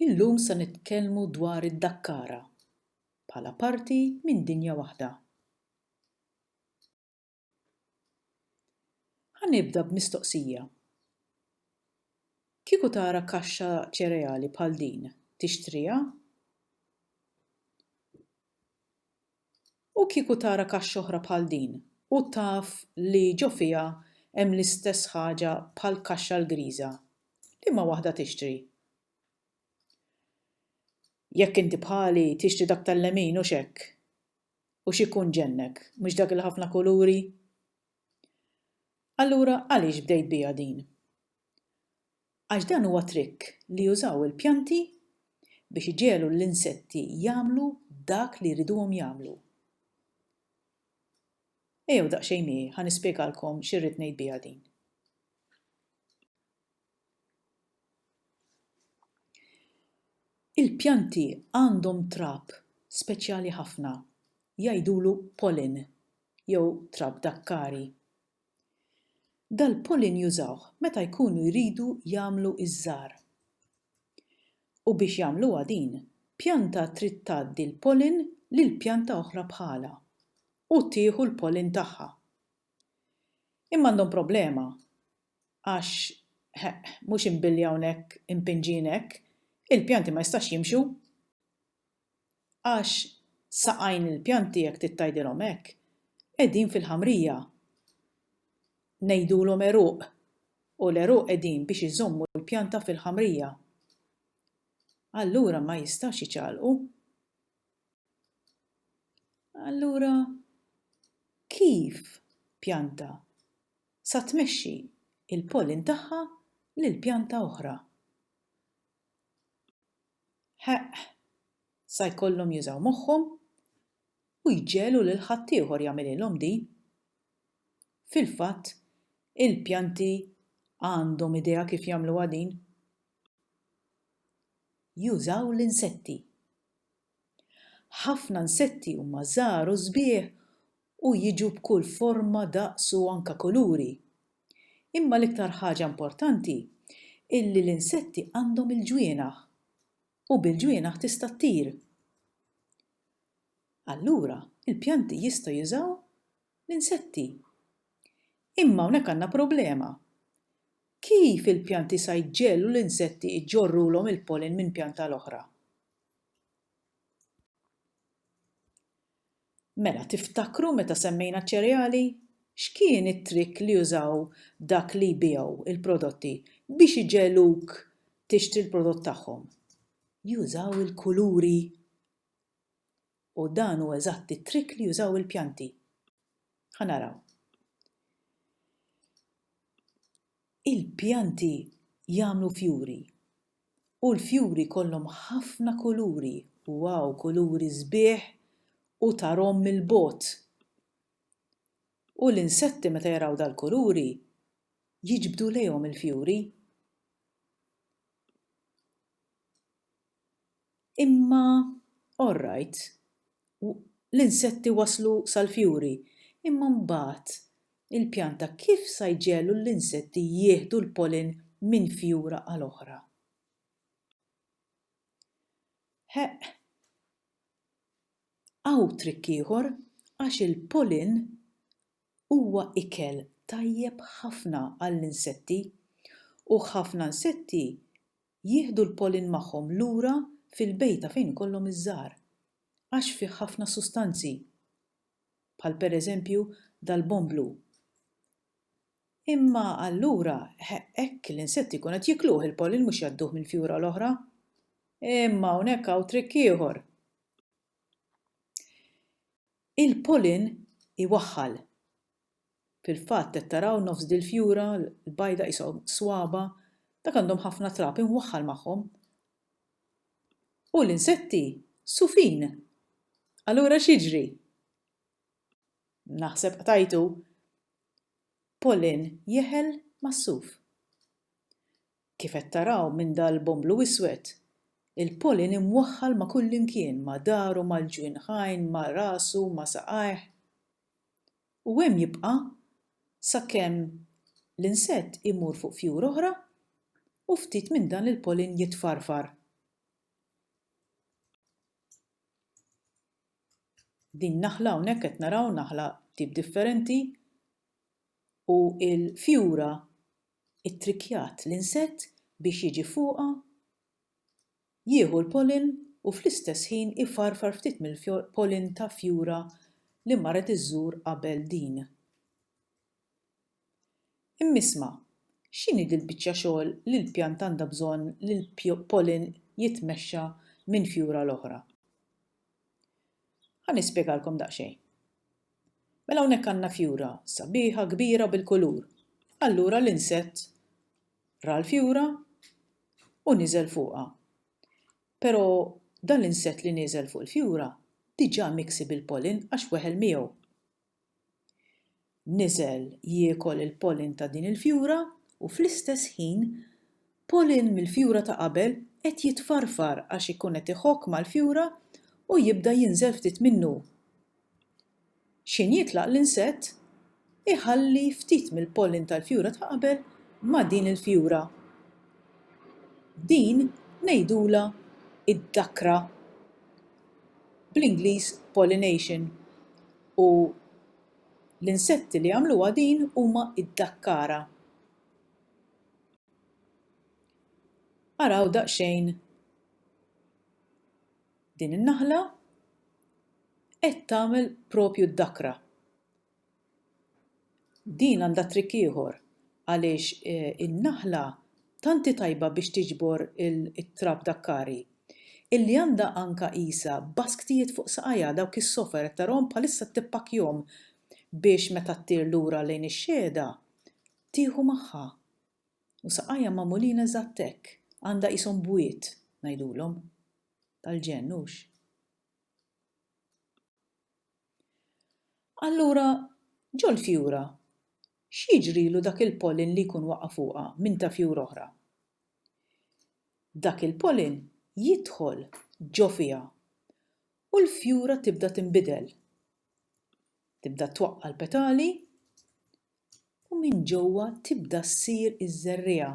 Illum se nitkellmu dwar id-dakkara bħala parti minn dinja waħda. Ħa nibda b'mistoqsija. Kieku tara kaxxa ċereali bħal din, tixtriha? U kieku tara kaxxa oħra bħal din u taf li ġo fiha hemm l-istess ħaġa bħall-kaxxa l-griża, liema waħda tixtri? Jekk inti bħali, tixtri dak tal-lemin, hux hekk? U x'ikun ġennek, mhux dak il-ħafna kuluri? Allura għaliex bdejt biha din? Għax dan huwa trikk li jużaw il-pjanti biex iġegħlu l-insetti jagħmlu dak li jriduhom jagħmlu. Ejjew daqsxejn miegħi ħa nispjegalkom xi rrid ngħid biha din. Il-pjanti għandhom trab speċjali ħafna, jgħidulu pollen jew trab dakkari. Dal-pollen jużawh meta jkunu jridu jagħmlu ż-żahar. U biex jagħmluha din, pjanta trid tgħaddi l-pollen lil pjanta oħra bħalha u tieħu l-pollen tagħha. Imma għandhom problema. għax, heq, mhux imbilli hawnhekk impinġin hekk, il-pjanti ma jistax jimxu. Għax, saqajn il-pjanti jekk trid tgħidilhom hekk, qegħdin fil-ħamrija. Ngħidulhom għeruq, u l-għeruq qegħdin biex iżommu l-pjanta fil-ħamrija. Allura ma jistax jiċalqu. Allura, kif pjanta sa tmexxi l-pollen tagħha lil pjanta oħra. Heqq! Sa jkollhom jużaw moħħhom u jġegħlu lil ħaddieħor jagħmililhom din. Fil-fatt, il-pjanti għandhom idea kif jagħmluha din. Jużaw l-insetti. Ħafna nsetti huma żgħar u sbieħ u jiġu b'kull forma, daqs u anke kuluri. Imma l-iktar ħaġa importanti hi li l-insetti għandhom il-ġwienaħ u bil-ġwienaħ tista' ttir. Allura, il-pjanti jistgħu jużaw l-insetti. Imma hawnhekk għandna problema. Kif il-pjanti sa jġegħlu l-insetti jġorrulhom il-pollen minn pjanta għal oħra? Mela, tiftakru meta semmejna ċ-ċereali? X'kien it-trikk li użaw dak li jbigħu l-prodotti biex iġegħluk tixtri l-prodott tagħhom? Jużaw il-kuluri! U dan hu eżatt it-trikk li jużaw il-pjanti. Ħa naraw. Il-pjanti jagħmlu fjuri. U l-fjuri jkollhom ħafna kuluri, wow, kuluri sbieħ u tarhom mill-bogħod. U l-insetti meta jaraw dal-kuluri jiġbdu lejhom il-fjuri. Imma all right, l-insetti waslu sal-fjuri, imma mbagħad il-pjanta kif sa jġegħlu l-insetti jieħdu l-pollen minn fjura għal oħra? Ħeqq, hawn trikk ieħor għax il-pollen Huwa ikel tajjeb ħafna għall-insetti u ħafna nsetti jieħdu l-pollen magħhom lura fil-bejta fejn ikollhom iż-żgħar għax fih ħafna sustanzi bħal pereżempju dal-bonn blu. Imma allura hekk l-insetti jkunu qed jikluh il-pollen mhux jgħadduh mill-fjura l-oħra. Imma hawnhekk hawn trikk ieħor. Il-pollen iwaħħal. Fil-fatt qed taraw nofs dil-fjura l-bajda qishom swaba', dak għandhom ħafna trab imwaħħal magħhom. U l-insetti sufin! Allura x'jiġri? Naħseb qtajtu. Pollen jeħel mas-suf. Kif qed taraw minn dal-bun blu iswed, il-pollen imwaħħal ma' kullimkien, ma' daru, mal-ġwinħajn, ma' rasu, ma' saqajh. U hemm jibqa' sakemm l-insett imur fuq fjur oħra u ftit minn dan il-pollen jitfarfar. Din naħla hawnhekk qed naraw naħla tip differenti u l-fjura ittrikkjat l-insett biex jiġi fuqha, jieħu l-pollen u fl-istess ħin ifarfar ftit mill-pollen ta' fjura li marret iżżur qabel din. Imma isma', x'inhi dil-biċċa xogħol li l-pjanta għandha bżonn li l-pollen jitmexxa minn fjura l-oħra? Ħa nispjegalkom daqsxejn. Mela hawnhekk għandna fjura sabiħa, kbira bil-kulur. Allura l-insett ra l-fjura u niżel fuqha. Però dan l-insett li nieżel fuq il-fjura diġà miksi bil-pollen għax weħel miegħu. Niżel jiekol il-pollen ta' din il-fjura u fl-istess ħin Pollen mill-fjura ta' qabel qed jitfarfar għax ikun qed iħokk mal-fjura u jibda jinżel ftit minnu. X'ħin jitlaq l-insett, iħalli ftit mill-pollen tal-fjura ta' qabel ma' din il-fjura. Din ngħidulha d-dakra, bl-Ingliż pollination, u l-insetti li jagħmluha din huma d-dakkara. Araw daqsxejn din in-naħla qed tagħmel propju d-dakra. Din għandha trikk ieħor għaliex in-naħla tant hi tajba biex tiġbor it-trab dakkari illi għandha anka qisha basktijiet fuq saqajha dawk is-sofa jekk tarahom bħalissa qed tippakkjahom biex meta ttir lura lejn ix-xehda tieħu magħha U saqajja magħmulin eżatt hekk, għandha qishom bwiet, ngħidulhom. Tal-ġenn, hux? Allura, ġol-fjura, x'jiġrilu dak il-pollen li jkun waqa' fuqha minn ta' fjur oħra? Dak il-pollen jidħol ġo fiha u l-fjura tibda tinbidel. Tibda twaqqa' l-petali, u minn ġewwa tibda ssir iż-żerriegħa.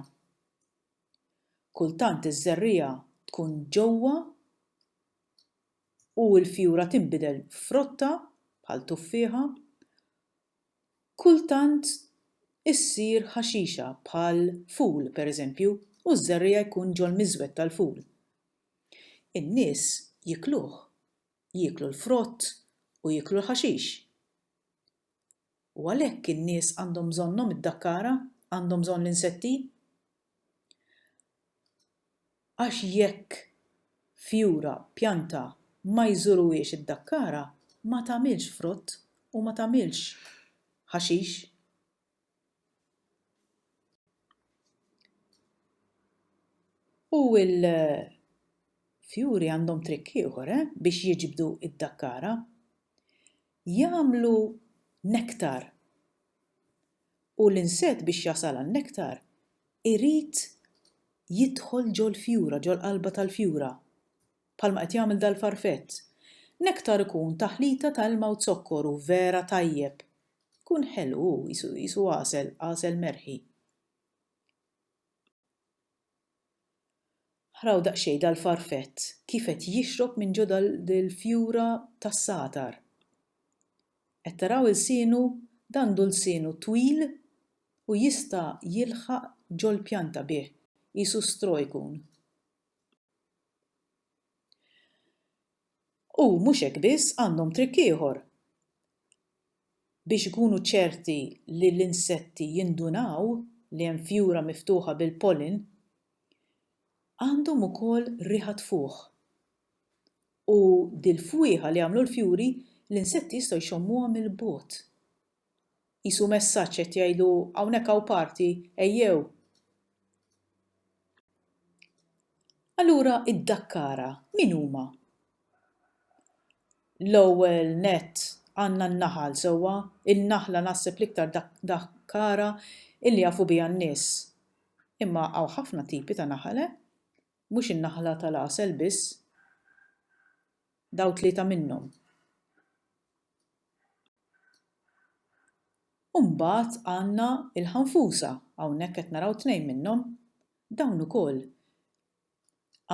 Kultant iż-żerriegħa tkun ġewwa u l-fjura tinbidel f'frotta bħal tuffieħa, kultant issir ħaxixa bħal ful pereżempju u ż-żerriegħa jkun ġol-miżwed tal-ful. In-nies jiekluh, jieklu l-frott u jieklu l-ħaxix. U għalhekk in-nies għandhom bżonnhom id-dakkara, għandhom bżonn l-insetti. Għax jekk fjura, pjanta, ma jżuruhiex id-dakkara, ma tagħmilx frott u ma tagħmilx ħaxix. U l-fjuri għandhom trikk ieħor eh, biex jiġbdu id-dakkara. jagħmlu nektar u l-insett biex jasal għan-nektar irid jidħol ġol-fjura, ġol-qalba tal-fjura, bħalma qed jagħmel dal-farfett. Nektar ikun taħlita ta' ilma u zokkor u vera tajjeb. Ikun ħelu hu, qisu għasel, għasel merħi. Araw daqsxejn dal-farfett kif qed jixrob minn ġo dal-fjura tas-sagħtar. Qed taraw ilsienu? Dan għandu lsienu twil u jista' jilħaq ġol-pjanta bih, qisu straw ikun. U mhux hekk biss, għandhom trikk ieħor biex ikunu ċerti li l-insetti jindunaw li hemm fjura miftuħa bil-pollen, għandhom ukoll riħa tfuħ. U dil-fwieħa li jagħmlu l-fjuri, l-insetti jistgħu jxommuha mill-bogħod. Qisu messaġġ qed jgħidu hawnhekk hawn party, ejjew! Allura iddakkara min huma. L-ewwel nett għandna n-naħal sewwa, in-naħla naħseb l-iktar dakkara illi jafu biha n-nies. Imma hawn ħafna tipi ta' naħal eh! Mhux in-naħla tal-għasel biss. Dawn tlieta minnhom. U mbagħad għandna l-ħanfusa, hawnhekk qed naraw tnejn minnhom. Dawn ukoll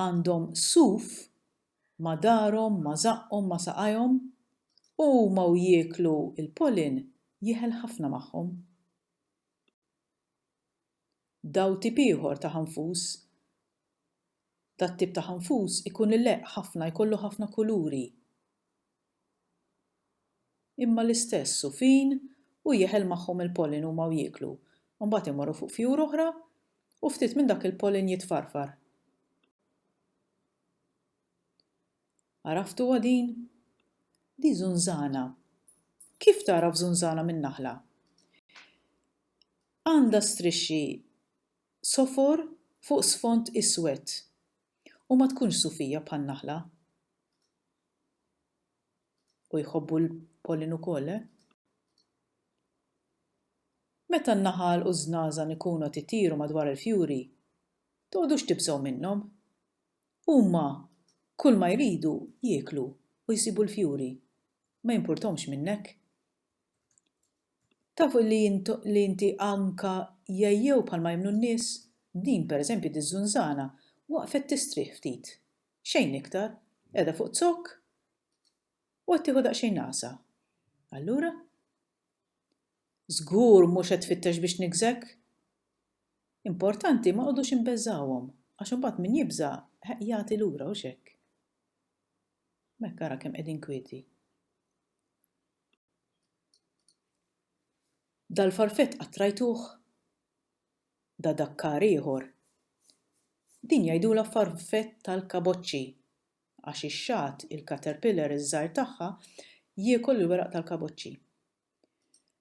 għandhom suf ma' darhom, ma' żaqqhom, ma' saqajhom, u huma u jieklu l-pollen jieħel ħafna magħhom. dawl tip ieħor ta' ħanfus dat tip ta' ħanfus ikun ileqq ħafna jkollu ħafna kuluri imma l-istess u fin u jeħel magħhom il-pollen huma u jieklu u mbagħad imorru fuq fjur oħra u ftit minn dak il-pollen jitfarfar. Għaraftuha din? Di żunżana. Kif tagħraf żunżana minn naħla? Għandha strixxi sofor fuq sfond iswed u ma tkunx sufija bħan-naħla. U jħobbu l-pollen ukoll, eh? Meta n-naħal u ż-żnażan ikunu qed itiru madwar il-fjuri, togħdux tibżgħu minnhom. Huma kull ma jridu jieklu u jsibu l-fjuri. Ma jimpurtomx minnek. Tafu li li inti anka jgħejjew bħalma jemmnu n-nies? Din, per eżempju, diż-żunżana waqfet tistrieħ ftit. Xejn iktar. Qiegħda fuq zokk U qed tieħu daqsxejn nagħsa. Allura? Żgur mhux qed tfittex biex tniggżek? Importanti ma qogħdux imbeżżgħuhom, għax imbagħad min jibża' jagħti lura hux hekk? Mekk ara kemm qegħdin kwieti. Dal-farfett qattrajtuh? Da dakkar ieħor. Din jgħidulha farfett tal-kaboċċi. għax ix-xagħat, il-caterpillar iż-żgħir tagħha, jiekol il-weraq tal-kaboċċi.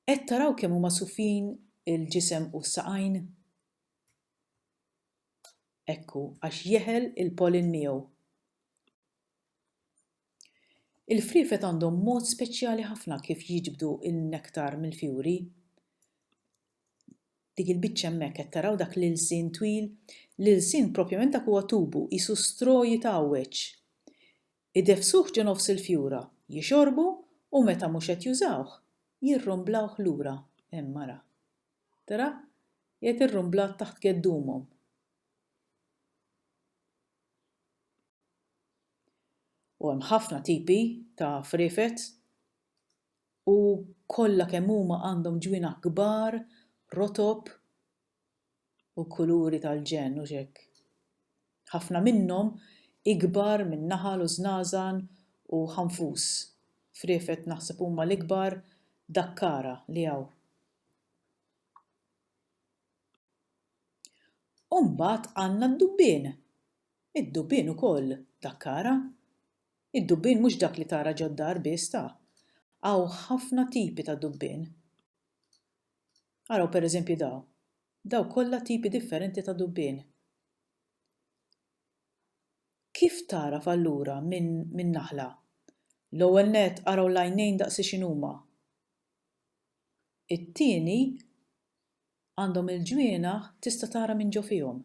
Qed taraw kemm huma sufjin il-ġisem u s-saqajn? Ekku, għax jeħel il-pollen miegħu. Il-friefet għandhom mod speċjali ħafna kif jiġbdu n-nektar mill-fjuri. dik il-biċċa hemmhekk qed taraw dak l-ilsien twil? L-ilsien propjament dak huwa tubu, qisu straw jitgħawweġ. Ideffsuh ġo nofs il-fjura, jixorbu u meta mhux qed jużawh, jirrumblawh lura. Hemm ara. Tara? Qiegħed irrumblat taħt geddumhom. U hemm ħafna tipi ta' friefet. U kollha kemm huma għandhom ġwienaħ kbar, rotob u kuluri tal-ġenn, hux hekk? Ħafna minnhom ikbar minn naħal u żnażan u ħanfus. Friefet naħseb huma l-ikbar dakkara li hawn. U mbagħad għandna d-dubbien. Id-dubbien ukoll dakkara. Id-dubbien mhux dak li tara ġod-dar biss ta. Hawn ħafna tipi ta' dubbien. Araw per eżempji daw. Daw kollha tipi differenti ta' dubbien. Kif tagħraf allura min minn naħla? L-ewwel nett araw l-għajnejn daqsi x'inhuma. It-tieni għandhom il-ġwienaħ tista' tara minn ġo fihom.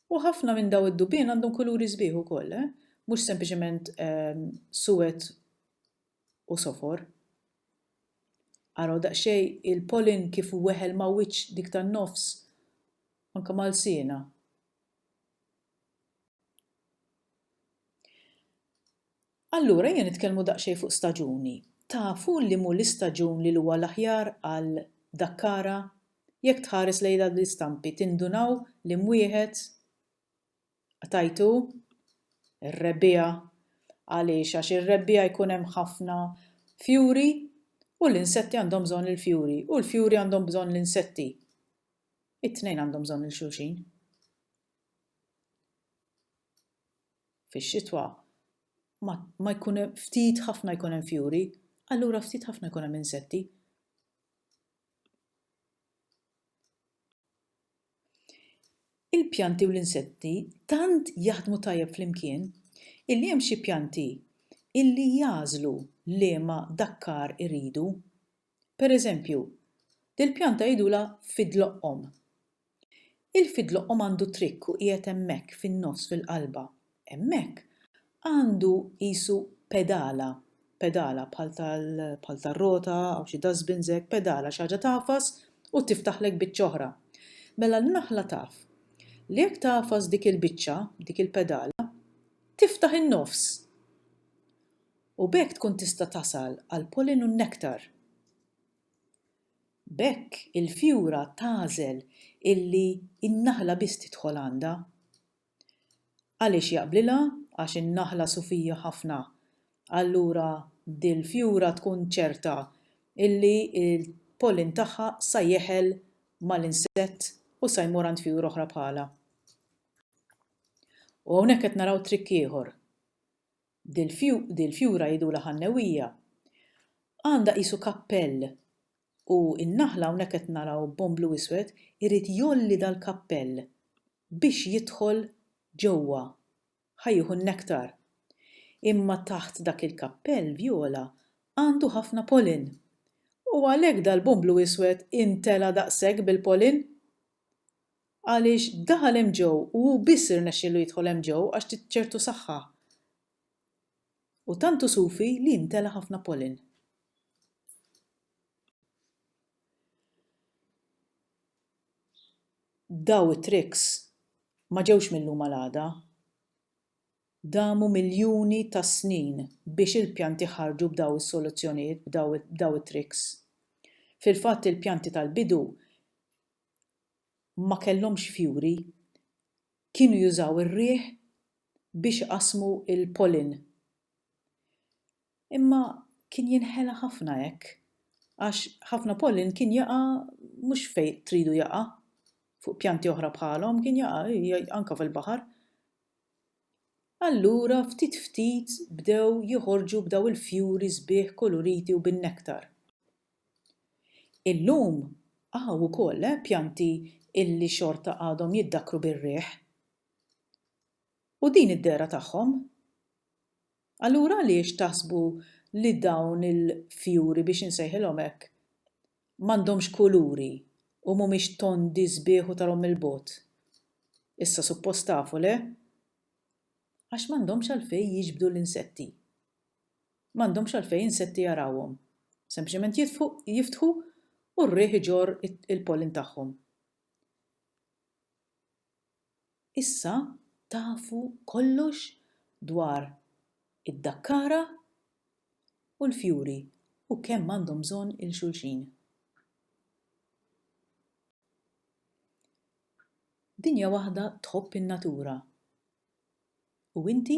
U ħafna minn daw id-dubien għandhom kuluri sbieħ ukoll, eh? Mhux sempliċement ehm, suwed u sofor. Araw daqsxej il-polin kif weħel ma' wiċċ dik tan-nofs anke mal siena. Allura ejja nitkellmu daqsxejn fuq staġuni. Tafu li m'hu l-istaġun li l-huwa l-aħjar għal Dakkara? Jekk tħares lejn dawn l-istampi tindunaw li m'wieħed Qtajtu? Ir-Rebbiegħa. Għaliex għax ir-Rebbiegħa jkun hemm ħafna fjuri u l-insetti għandhom bżonn il-fjuri u l-fjuri għandhom bżonn l-insetti. It-tnejn għandhom bżonn il-xulxin. Fix-xitwa ma ma jkun hemm ftit ħafna jkun hemm fjuri, allura ftit ħafna jkun hemm insetti. Il-pjanti u l-insetti tant jaħdmu tajjeb flimkien illi hemm xi pjanti illi jagħżlu liema dakkar iridu. Pereżempju, dil-pjanta jgħidulha fidloqqom. Il-fidlu qom għandu trikk u qiegħed hemmhekk fin-nofs fil-qalba. Hemmhekk għandu qisu pedala, pedala bħal tal, bħal tar-rota aw xi dustbins hekk, pedala xi ħaġa tagħfas u tiftaħlek biċċa oħra. Mela n-naħla taf li jekk tagħfas dik il-biċċa, dik il-pedala, tiftaħ in-nofs! U b'hekk tkun tista' tasal għall-pollen u n-nektar. B'hekk il-fjura tagħżel illi n-naħla biss tidħol għandha. Għaliex jaqblilha? Għax in-naħla sufija ħafna. Allura dil-fjura tkun ċerta illi l-pollen tagħha sa jeħel mal-insett u sa jmur għand fjur oħra bħalha. U hawnhekk qed naraw trikk ieħor. Dil fjura jgħidulha ħannewija. Għandha qisu kappell u n-naħla hawnhekk qed naraw bon blu iswed irid jgħolli dal-kappell biex jidħol ġewwa. Ħa jieħu n-nektar. Imma taħt dak il-kappell vjola għandu ħafna pollen. U għalhekk dal-bon blu iswed intela' daqshekk bil-pollen. Għaliex daħal hemm ġew u hu biss irnexxielu jidħol hemm ġew għax tit ċertu saħħa. U tant hu sufi li jimtela ħafna pollen. Daw it-tricks ma ġewx mil-lum għal għada. Damu miljuni ta' snin biex il-pjanti ħarġu b'daw is-soluzzjonijiet, b'daw it-tricks. Fil-fatt il-pjanti tal-bidu ma kellhomx fjuri, kienu jużaw ir-riħ biex iqassmu l-pollen. Imma kien jinħela ħafna hekk għax ħafna pollen kien jaqa' mhux fejn tridu jaqa' fuq pjanti oħra bħalhom, kien jaqa' anke fil-baħar. Allura ftit ftit bdew joħorġu b'dawn il-fjuri sbieħ kuluriti u bin-nektar. Illum hawn ukoll pjanti illi xorta għadhom jiddakkru bir-riħ. U din id-dehra tagħhom? Allura għaliex taħsbu li dawn il-fjuri biex insejħilhom hekk m'għandhomx kuluri u mhumiex tondi sbieħ u tarhom mill-bogħod? Issa suppost tafu, le? Għax m'għandhomx għalfejn jiġbdu l-insetti. M'għandhomx għalfejn insetti jarawhom. Sempliċement jitfu, jiftħu u r-riħ iġorr il-pollen tagħhom. Issa tafu kollox dwar id-dakkara u l-fjuri u kemm għandhom bżonn 'il xulxin. Dinja waħda tħobb in-natura U inti?